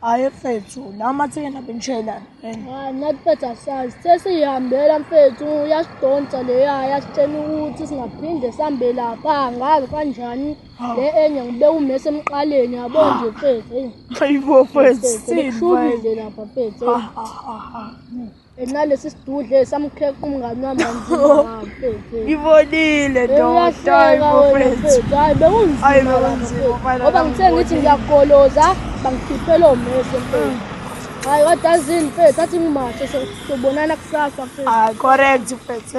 Hayi mfethu, la mathekeni abenishayelana. Hayi nathi mfethu asazi. Sesiyihambela mfethu, uyasidonsa leya, yasitshena ukuthi singaphinde sihambe lapha, ngazi kanjani. Le enye ngibe umese emqaleni, yabo nje mfethu. Hayibo mfethu, sithini mfethu? Lapha mfethu. ngenxa lesi sidudle samkheqa umngani wami ngibonile ndodahayi bekunzimaoba ngithe ngithi ngiyagoloza bangikhiphela omese mfethu hayi wadazini mfethu athi ngimashe sobonana kusasa mfethu correct mfethu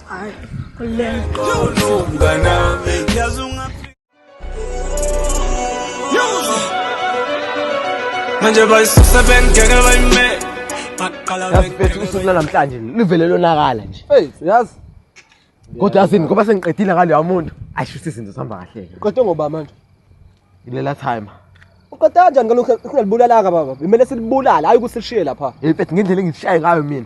Hayi. Manje bayisusa bengeke bayime. Baqala Yazi mfethu usuku lwanamhlanje livele lonakala nje. Hey, yazi Kodwa yasini ngoba sengiqedile ngaloya muntu. Ayisho ukuthi izinto zihamba kahle ke. qede ngoba manje. Ilela time. Uqede kanjani ngalokho kungalibulala ka baba? Kumele silibulale, hayi ukuthi silishiye lapha. Hey mfethu ngendlela engishaye ngayo mina.